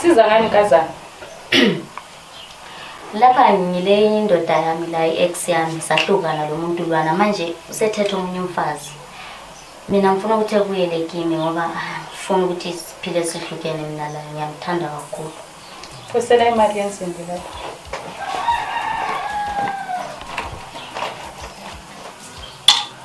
Siza ngani nkazana? Lapha ngile indoda yami la i-ex yami sahlukana lo muntu lwana manje usethethe omunye umfazi. Mina ngifuna ukuthi ebuyele kimi ngoba ah, ngifuna ukuthi siphile sihlukene mina la ngiyamthanda kakhulu. Phosela imali yensimbi lapha.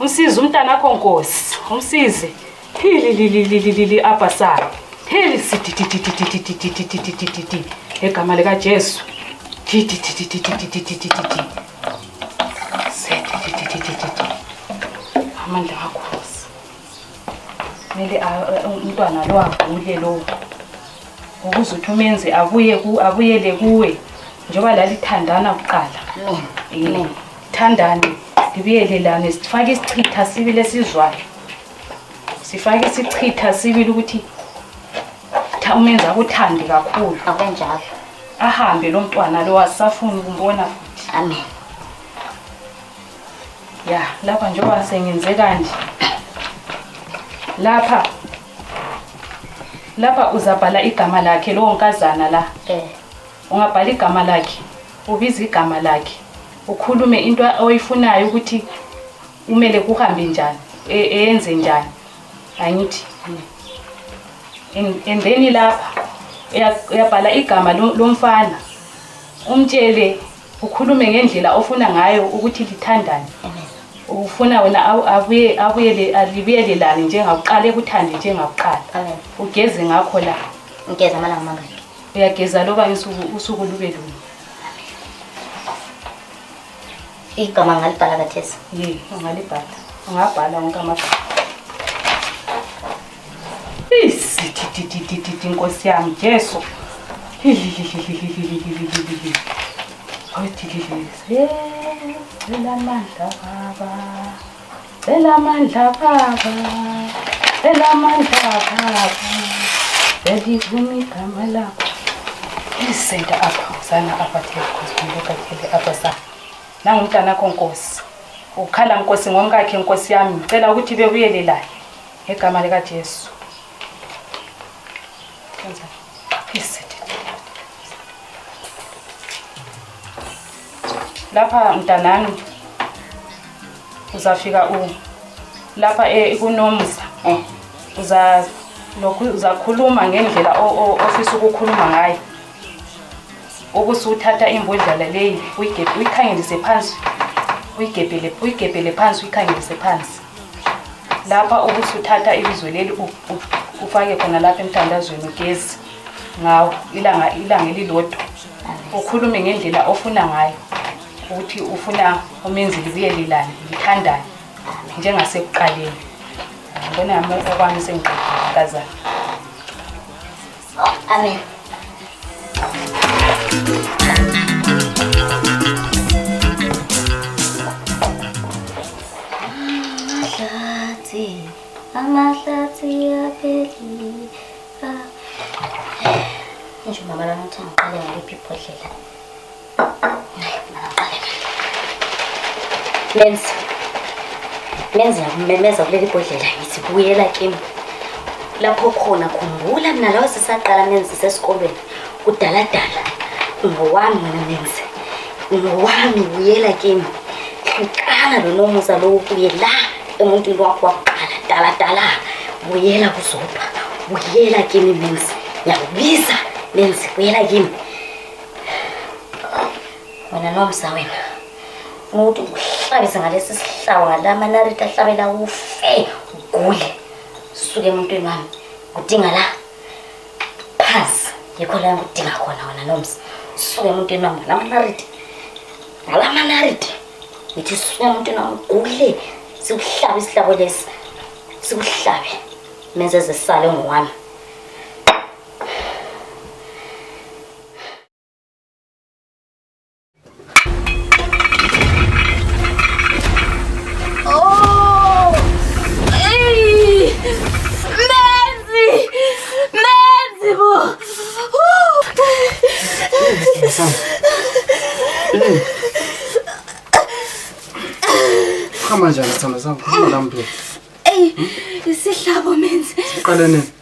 Umsize umntanakho Nkosi, umsize. Hili lili lili lili abhasara. Hili sidididididididididididididi. Egama lika Jesu. Didididididididididididi. Sedididididididi. Amandla kaKhosi. Kumele umntwana lo agule lo. Ukuze uthi umenzi abuye ku abuyele kuwe njengoba lalithandana kuqala. Amen. Amen. Thandani, ngibiyelelane, sifake isichitha sibili esizwayo. Sifake isichitha sibili ukuthi tha umenza akuthande kakhulu. Abe njalo. Ahambe lo mntwana lo asisafuni ukumbona futhi. Amen. Ya, lapha njengoba sengenze kanje. Lapha lapha uzabhala igama lakhe lowo nkazana la. Eh. Ungabhala igama lakhe, ubize igama lakhe, ukhulume into oyifunayo ukuthi kumele kuhambe njani, e- eyenze njani. Angithi and and then lapha uya- uyabhala igama lo- lomfana umtshele ukhulume ngendlela ofuna ngayo ukuthi lithandane ufuna wena awu- abuye abuyele alibuyelelane njengakuqala ekuthande njengakuqala Amen. ugeze ngakho la Ngigeza amalanga mangaki? uyageza loba usuku usuku lube lunye igama ngalibhala kathesi ye ungalibhala ungabhala wonke amagama isithithithithithithi nkosi yami jesu awethililisa ye cela amandla baba Cela amandla baba, cela amandla baba, yalivuma igama lakho. Isenta apha sana apha thele Nkosi kumbuka thele apha sana. Nangu umntana kho Nkosi. Ukhala Nkosi ngomkakhe Nkosi yami, ngicela ukuthi bebuyele la ngegama lika Jesu. Kanjani? Isenta. Lapha mntanami uzafika u lapha eh, kunomsa eh. uza lokhu uzakhuluma ngendlela ofisa ukukhuluma ngayo ubuse uthatha imbodlala leyi uyikhangelise phansi uyigebhele uyigebhele phansi uyikhangelise phansi lapha ukuthi uthatha ibizo leli ufake khona lapha emthandazweni ugezi ngawo ilanga ilanga elilodwa ukhulume ngendlela ofuna ngayo ukuthi ufuna umenzi libuyelelane lithandane njengasekuqaleni ngibona yami okwami sengiqedazana amen amahlathi aphelile nje mama lami uthi ngiqale ngaliphi ibhodlela Menzi. Menzi yakumemeza kuleli bhodlela ngithi buyela kimi. Lapho khona khumbula mina lawo sisaqala menzi sesikolweni. Kudaladala. Ngowami mina menzi. Ngowami buyela kimi. Hlukana lo nomusa lowo kuye la emuntwini wakho wakuqala daladala. Buyela kuzopha. Buyela kimi menzi. Ngiyakubiza menzi buyela kimi. wena nomsa wena umuntu uhlabise ngalesi sihlabo ngala manariti ahlabela ufe ugule suke emntwini wami udinga la phansi yikho la ngikudinga khona wena nomsa suke emntwini wami ngala manariti ngala manariti ngithi suke emntwini wami ugule sikuhlabe isihlabo lesi sikuhlabe menze zesale ngowami Hamba njani sithando sami? Hamba la mntu. Ey, isihlabo menzi. Siqale nini?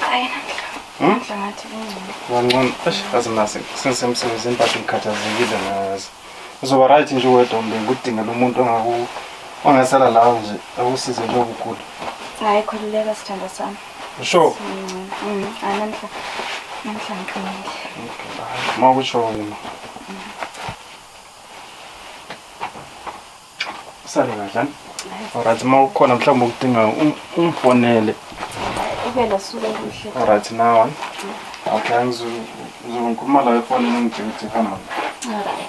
Hayi namhla hmm? ngathi kungcono. Wangcono eish kaze mase sengisemsebenzini but ngikhathazekile ngazi. Uzoba right nje wedwa mbe ngikudingela umuntu ongaku ongasala lawo nje akusize nje ukugula. Hayi khululeka sithando sami. Sure. Mhm. Hayi namhla. Namhla ngiqinile. Okay. Mawusho wena. Usale ngadlani? Alright, uma ukhona mhlawumbe ukudingayo ungifonele. Ubela suka kuhle. Alright now. Eh? Okay, ngizokhuluma la efonini ngidinga ukuthi hamba. Alright.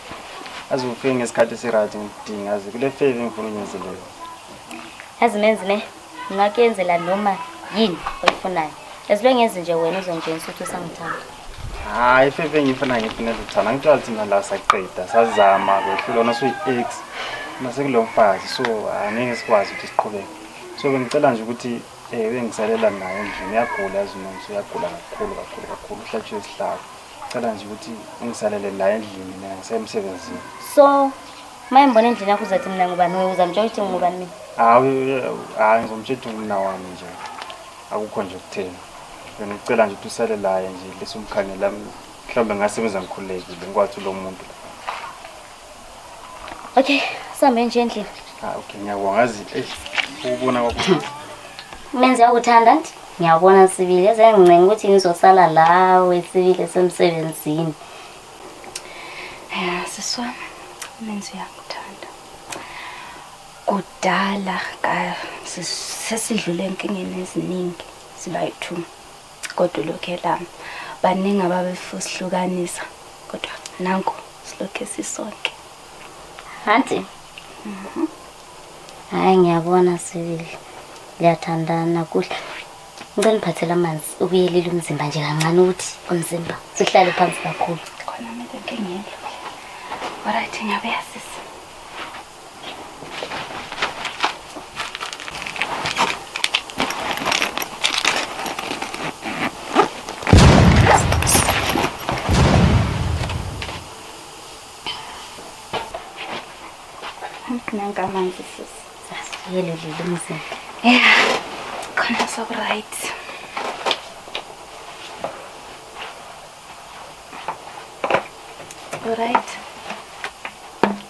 Azi ufike ngesikhathi esiright ngidinga azi kule favor engifuna unyenzelele. Yazi menzi ne ngingakuyenzela noma yini oyifunayo. As long as nje wena uzongitshengisa ukuthi usangithanda. Hayi ifavor engiyifuna ngifunela uthanda. Angitshela ukuthi mina la saqeda sazama kwehlula naso i-ex. Mase kulo mfazi so angeke sikwazi ukuthi siqhubeke. So bengicela nje ukuthi eh bengisalela naye endlini uyagula yazi umuntu uyagula kakhulu kakhulu kakhulu uhlatshiwe isihlabo. Cela nje ukuthi ungisalele la endlini mina ngisemsebenzini. So maye mbona endlini yakho uzathi mina ngubani wewe uzamtshela ukuthi ngingubani mina. Hayi hayi ngizomtshela ukuthi unawami nje. Akukho nje ukutheni. Wena ucela nje ukuthi usale la nje lesi umkhanye lami mhlawumbe ngasebenza ngikhululekile ngikwathi lo muntu. Okay, sambe nje endlini. Ah okay, ngiyabonga ngazi eh ukubona kwakho. Menze ukuthanda nti. Ngiyabona sibili ezengincenga ukuthi ngizosala la wesibili semsebenzini. Eh siswami menze uyakuthanda. Kudala ka sesidlule enkingeni eziningi sibayithu. kodwa ulokhe lami baningi ababefuna sihlukanisa kodwa nanko silokhe sisonke hanti mhm. hayi ngiyabona sibili liyathandana kuhle ngicela ngiphathele amanzi ukuyelile umzimba nje kancane ukuthi umzimba sihlale phansi kakhulu khona mele ngingedwa alright ngiyabuya sisi nanka amanzi sisi sasiyele leli umzimba ya khona sokuryt right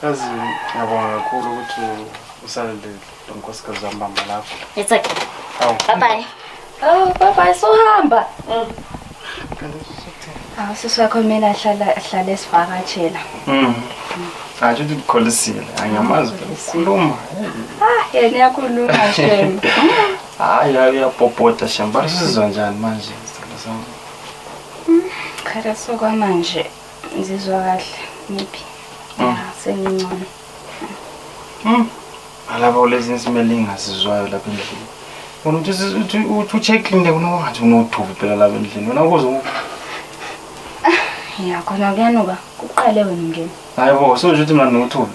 Kazi ngiyabonga kakhulu ukuthi usalindele lo nkosikazi wami bamba lapho. It's okay. Awu. Bye bye. Oh, bye bye. So hamba. Mm. Awu sisi wakho mina ahlala ahlala esivakatshela. Mm. Hayi ukuthi ukholisile. Angiyamazi ukukhuluma. Ah, yena uyakhuluma shem. Hayi, hayi uyapopota shem. Bari sizwa njani manje? Sicela sami. Khara sokwamanje. Ngizizwa kahle ngiphi. Mm. Ah, sengingcono. Mm. Alapha kulezi insimele ingazizwayo lapha endlini. Wena uthi uthi uthi ucheck clean kunowathi unothuvu phela lapha endlini. Wena ukuze u Ya khona kuyanuka kuqale wena ngene. Hayibo, so nje uthi mina nothuvu.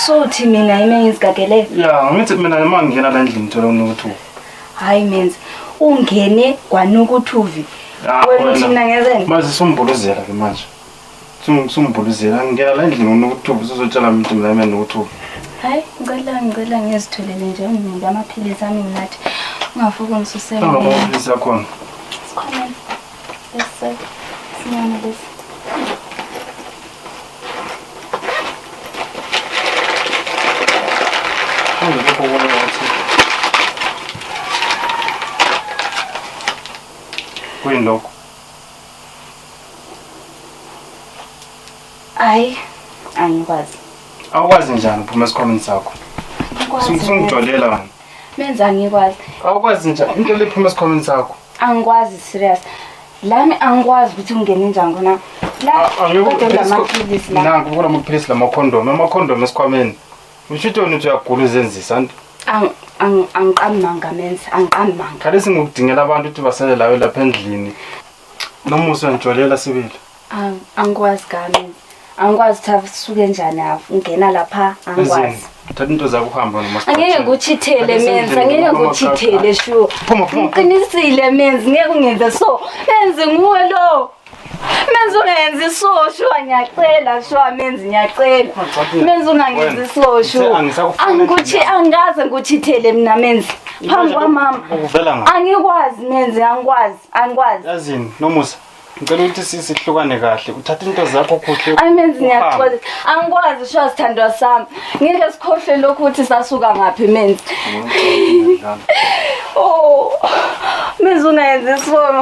Suthi mina yime ngizigagele. Ya, ngithi mina noma ngingena la endlini ngithola unokuthu. Hayi menzi. Ungene kwanokuthuvi. Ah, Wena wena. uthi mina ngezeni? Manje sumbuluzela ke manje. Sum- Sumbuluzela ngingena la endlini unokuthu uzotshela umuntu mina yime nokuthu. Hayi ngicela ngicela ngizitholele nje mina amaphilisi ami nginathi. Ungafuki ungisusele. Angabona ikhona. sikhona. Ese sinyane lesi. Ngikho wona wathi. Kuyini lokho? Hayi, angikwazi. Awukwazi njani uphuma esikhwameni sakho? Ngikwazi. Sungijolela wena. Menza angikwazi. Awukwazi nje into lephuma esikhomeni sakho. Angikwazi serious. Lami angikwazi ukuthi ungene njani khona. La ah, angikwazi lamaphilisi la. Nangu kula maphilisi lama condom, ama condom esikhwameni. Ushitoni uthi uyagula uzenzisa anti. Ang ang angiqamanga menza, angiqamanga. Khale singukudingela abantu ukuthi basele lawe lapha endlini. Nomusa uyanjolela sibili. angikwazi kami angikwazi ukuthi asuke njani ungena lapha angikwazi thatha into zakho uhamba noma angeke ngikuchithele menzi angeke ngikuchithele sure phuma phuma uqinisile menzi ngeke ungenze so menzi nguwe lo menzi ungenzi so sure ngiyacela sure menzi ngiyacela menzi ungangenzi so sure angikuthi angikaze ngikuchithele mina menzi phambi kwamama angikwazi menzi angikwazi angikwazi yazini nomusa Ngicela ukuthi sisi sihlukane kahle. Uthatha into zakho kuhle. Ay menzi ngiyaxola. Angikwazi sho sithandwa sami. Ngeke sikhohle lokhu ukuthi sasuka ngaphi menzi. Oh. Menzi ungayenzi isono.